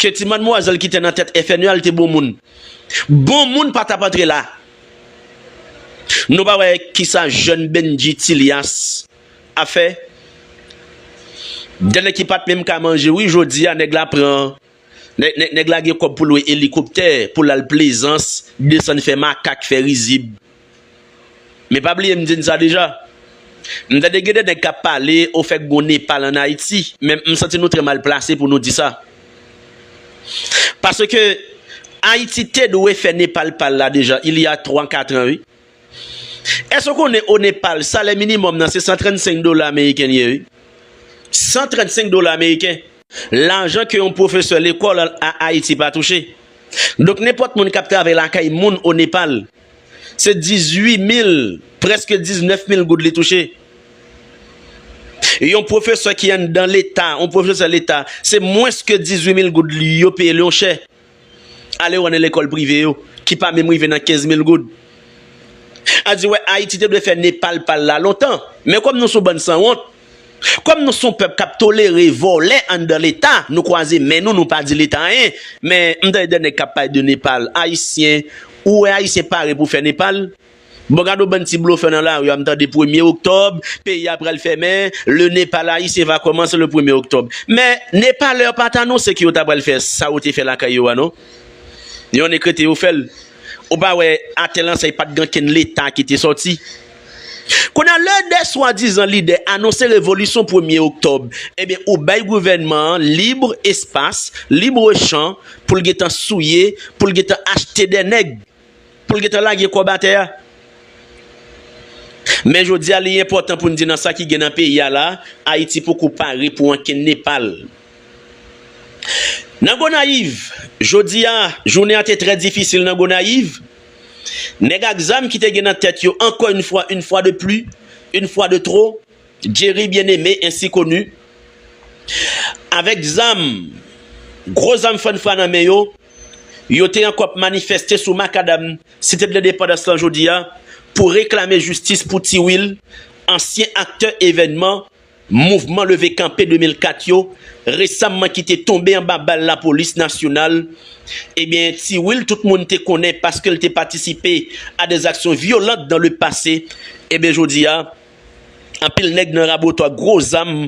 Ke ti madmwazèl ki te nan tèt FNE a l te bon moun. Bon moun pa t ap antre la. Nou pa wè kisa jèn Bendjy Thilias ap fè? Dènè ki pa t menm ka manje wi jodi a nèg la pran nèg la gen kòb pou l lwe elikoptè pou l al plezans desann fè makak fè rizib. Men pa bliye m di n sa deja. M tande gen de nèg k ap pale ofè k gon Nepal an Ayiti, men m santi nou trè mal plase pou nou di sa. Paske Ayiti te dwe fè Nepal pa l la deja il y a 3 katran wi. Èske w konnen o Nepal salè minimòm nan se 135 dola ameriken l ye wi. 135 dola ameriken! Lajan ke yon pwofesè lekòl a Ayiti pa touche. Donk nenpòt moun k ap travay lakay moun o Nepal, Se 18 mil, prèske 19 mil goud li touche. Yon pwofesè ki anndan Leta, yon pwofesè Leta, se mwens ke 18 mil goud yo peye l yon chè. Ale wè nan lekòl prive yo, ki pa menm rive nan 15 mil goud. A di wè, Ayiti te dwe fè Nepal pa l la lontan. Men kòm nou sou bann sanwont, Kòm nou son pèp kap tolere vòlè anndan leta nou kwaze men nou nou pa di leta anyen men m tande de nèg kap pale de Nepal ayisyen ou wè ayisyen pare pou fè Nepal bon gade yon bann ti blofè nan lari a m tande premye oktòb peyi a pral fèmen le Nepal ayisyen va kòmanse le premye oktòb men Nepalè pat anonse ke yo ta pral fè sa yo te fè lakay yo a non yon nekrete yo fèl ou pa wè atè lan sa pat gen okenn leta ki te sòti. Kounye a lè 2 swadizan lidè anonse revolisyon premye oktòb ebyen ou bay gouvènman an libre espas, libre champ pou l gentan souye, pou l gentan achte 2 nèg, pou l gentan lage kòb atè a. Men jodi a li enpòtan pou n di nan sa ki gen nan peyi a la, Ayiti poko pare pou ankenn Nepal. Nan Gonayiv, jodi a jounen an te trè difisil nan Gonayiv, Nèg ak zam ki te gen nan tèt yo ankò yn fwa, une fois de plus, une fois de trop, Jerry Bien-Aimé ainsi connu, avèk zam, gwo zam fannfra nan men yo, yo te ankò ap manifèste sou makadam Site d'Lendepandans lan jodi a pou reklame jistis pou Ti Will, ansyen aktè evènman Mouvman leve kanpe 2004 yo resamman ki te tonbe anba bal lapolis nasyonal, ebyen Ti Wil tout moun te konnen paske l te patisipe a des actions violentes dans le passé, ebyen jodi a anpil nèg nan Raboto ak gwo zam,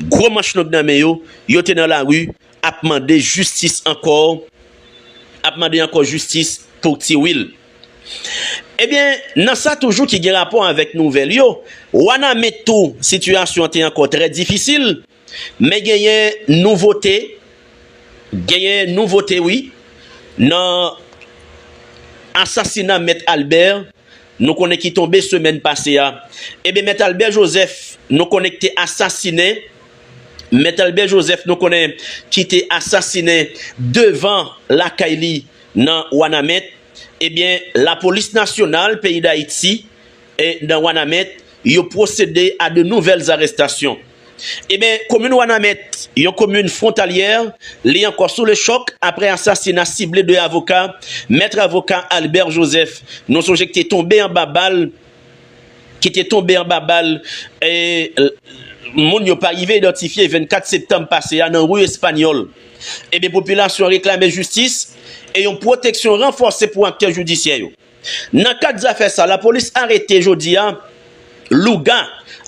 gwo manch long nan men yo, yo te nan lari ap mande jistis ankò ap mande ankò jistis pou tiwil ebyen nan sa toujou ki gen rapò avèk nouvèl yo wanament tou sitiyasyon te ankò trè difisil men genyen nouvote genyen nouvote wi nan asasina mèt albè. nou konnen ki tonbe semèn pase a, eben Mèt Albè Jozèf nou konnen kte asasinen, Mèt Albè Jozèf nou konnen ki te asasinen devan lakay li nan Wanament, eben lapolis nasyonal peyi Dayiti nan Wanament yo pwosede a de nouvèl zarestasyon. Eben, komin Wanament, yon komin fwontalyè, li ankò sou le chòk aprè asasina sible 2 avoka, Mèt avoka Albert Joseph, nou sonje ki te tonbe anba bal, ki te tonbe anba bal e moun yo pa rive idantifye 24 septanm pase a nan ri Espanyòl. Eben, popilasyon an reklame jistis e yon pwoteksyon ranfòse pou aktè jidisyè yo. Nan kad zafè sa, lapolis arete jodi a Louga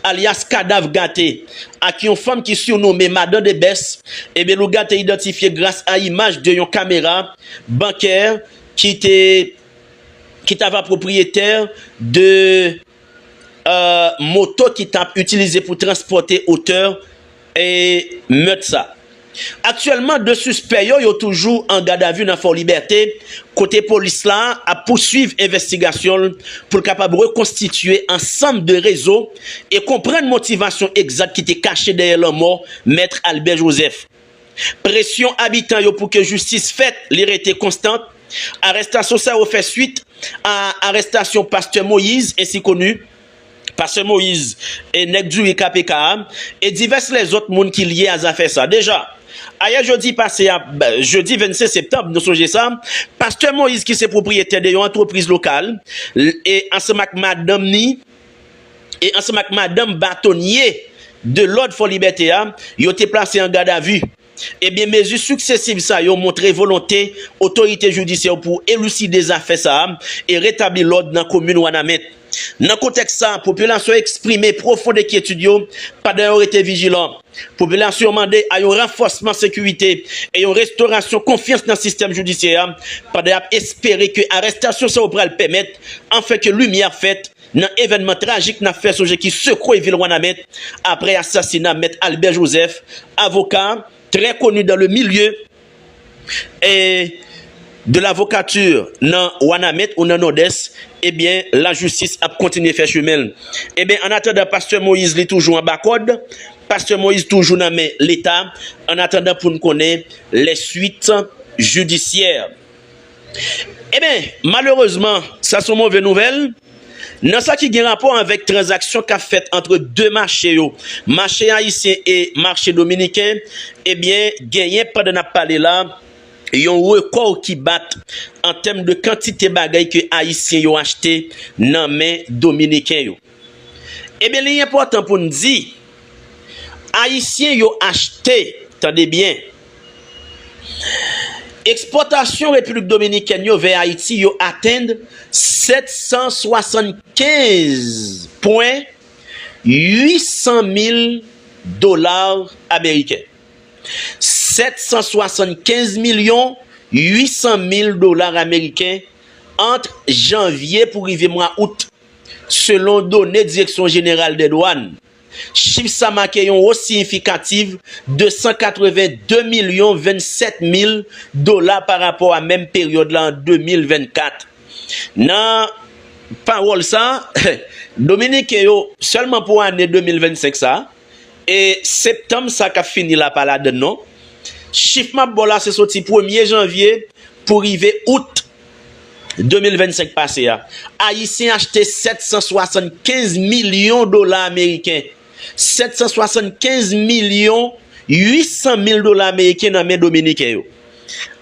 alyas Kadav Gate ak yon fanm ki sirnome Madan Debès. Ebyen Louga te idantifye gras a imaj de yon kamera bankè ki te ki t ava pwopriyetè de moto ki tap itilize pou transpòte otè mèt sa. Aktyèlman 2 sispè yo yo toujou an gadavi nan Fòlibète kote polis la ap pouswiv envèstigasyon l pou l kapab rekonstitye ansanm de rezo e konprann motivasyon egzat ki te kache dèyè lanmò Mèt Albè Jozèf. Presyon abitan yo pou ke jistis fèt li rete konstant, arestasyon sa yo fè swit a arestasyon Pastè Moïse ensi koni, Pastè Moïse e Nèg Diri KPK a, e divès lèzòt moun ki lye a zafè sa. Deja, ayè jodi pase a, jedi 25 septanb, nou sonje sa, Pastè Moïse ki se pwopriyetè de yon antrepriz lokal, e ansanm ak madanm ni, e ansanm ak madanm batonye de lòd Fòlibète a, yo te plase an gadavi. Ebyen mezi siksesiv sa yo montre volonte otorite jidisyè yo pou eliside zafè sa a e retabli lòd nan komin Wanament. Nan kontèks sa, popilasyon eksprime pwofond enkyetid yo pandan yo rete vijilan. Popilasyon an mande a yon ranfòsman sekirite e yon restorasyon konfyans nan sistèm jidisyè a pandan y ap espere ke arestasyon sa yo pral pèmèt anfen ke limyè ap fèt nan evènman trajik n ap fè sonje ki sekwe vil Wanament apre asasina Mèt Albert Joseph, avoka trè koni dan le milye. E de lavokati nan wanament ou nan nòdès ebyen la jistis ap kontinye fè chemenl ebyen an atandan pastè moyiz li toujou anba kòd pastè moyiz toujou nan men leta an atandan poun konnen lè swit jidisyè. Eben, malerezman, sa son move nouvèl nan sa ki gen rapò avèk tranzaksyon k ap fèt antre 2 mache yo, mache ayisyen e mache dominiken, ebyen genyen pandan n ap pale la yon rekò ki bat an tèm de kantite bagay ke ayisyen yo achte nan men dominiken yo. Ebyen li enpòtan pou n di, Ayisyen yo achte, tande byen, ekspòtasyon Repiblik Dominikèn yo vè Ayiti yo atenn 775 pwen 800 mil dola ameriken, 775 milyon 800 mil dola ameriken ant janvye pou rive mwa out. Selon done Direksyon Jeneral dè Dwàn, chif sa make yon wos siyifikativ 282 milyon 27 mil dola pa rapò a menm peryòd la an 2024. Nan pawòl sa, Dominiken yo, sèlman pou ane 2025 sa, e septanm sa k ap fini la pa ladann non, chif m ap ba w la se soti premye janvye pou rive out 2025 pase a, Ayisyen achte 775 milyon dola ameriken, 775 milyon 800 mil dola ameriken nan men Dominiken yo.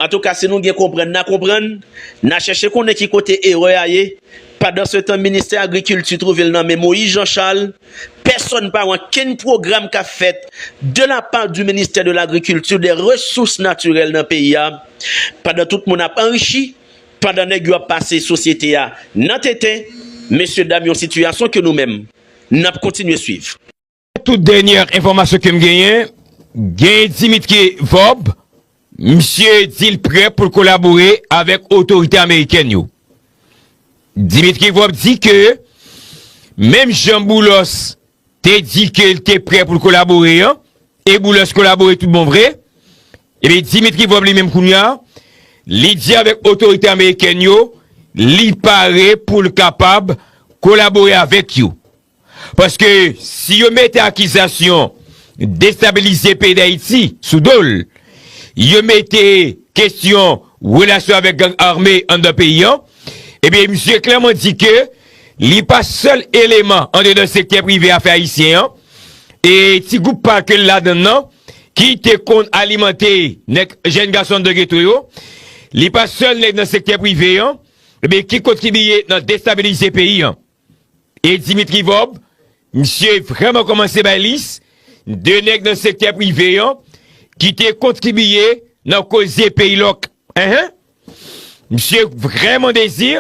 Antouka si nou gen konprann na konprann, na chèche konnen ki kote erè a ye, pandansetan ministè agrikilti twouve l nan men Moïse Jean Charles, Pèsòn pa wè ankenn pwogram k ap fèt de la pa di ministè de lagrikilti, de resous natirèl nan peyi a, pandan tout moun ap anrichi, pandan nèg yo ap pase sosyete a nan tenten, mesye dam yon sitiyasyon ke nou menm n ap kontinye swiv. Tout dènyè enfòmasyon ke m genyen, gen Dimitki Vorb Misye di l prè pou l kolabore avèk otorite amerikèn yo. Dmitry Vorb di ke menm jan Boulos te di ke l te prè pou l kolabore an, e Boulos kolabore tout bon vre, ebyen Dmitry Vorb li menm kounya li di avèk otorite amerikèn yo li pare pou l kapab kolabore avèk yo. Paske si yo mete akizasyon destabilize peyi Dayiti sou do l, yo mete kesyon relasyon avèk gang ame anndan peyi an, ebyen misye klèman di ke li pa sèl eleman andedan sektè prive afè ayisyen an, e ti gwoup pa ke l ladann nan, ki te konn alimante nèg jèn gason anndan geto yo, li pa sèl nèg nan sektè prive an, ebyen ki kontribiye nan destabilize peyi an. E Dimitri Vorb, misye vrèman kòmanse bay lis, de nèg nan sektè prive an ki te kontribiye nan koze peyi lòk. Enhen! Misye vrèman dezi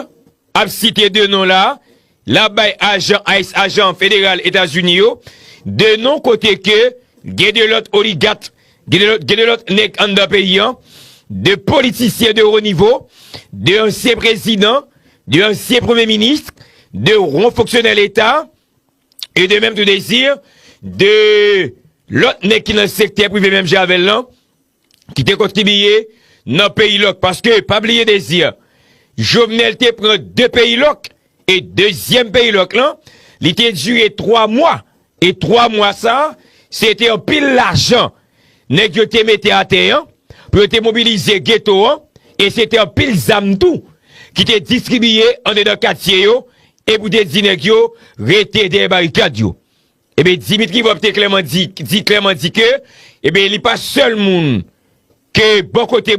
ap site de non la, l ap bay ajan ice, ajan federal Etazini yo, de non kote ke gen de lòt oligat Gen de lòt nèg anndan peyi an, de politisyen de wo nivo, de ansyen prezidan, de ansyen premye minis, de wo fonksyonè leta, e de menm tou dezi, de lòt nèg ki nan sektè prive menm jan avè l lan, ki te kontribiye nan peyi lòk. Paske, pa bliye dezi, Jovenel te pran de peyi lòk, E dezyèm perilòk lan, li te dire 3 mwa, e 3 mwa sa, se te anpil lajan nèg yo te mete atè an, pou yo te mobilize geto an, e se te anpil zam tou, ki te distribiye andedan katye yo, e pou te di nèg yo, rete dèyè barikad yo. Ebe Dimitri Vorbe te klèman di, di klèman di ke, ebe li pa sèl moun, ke bò kote.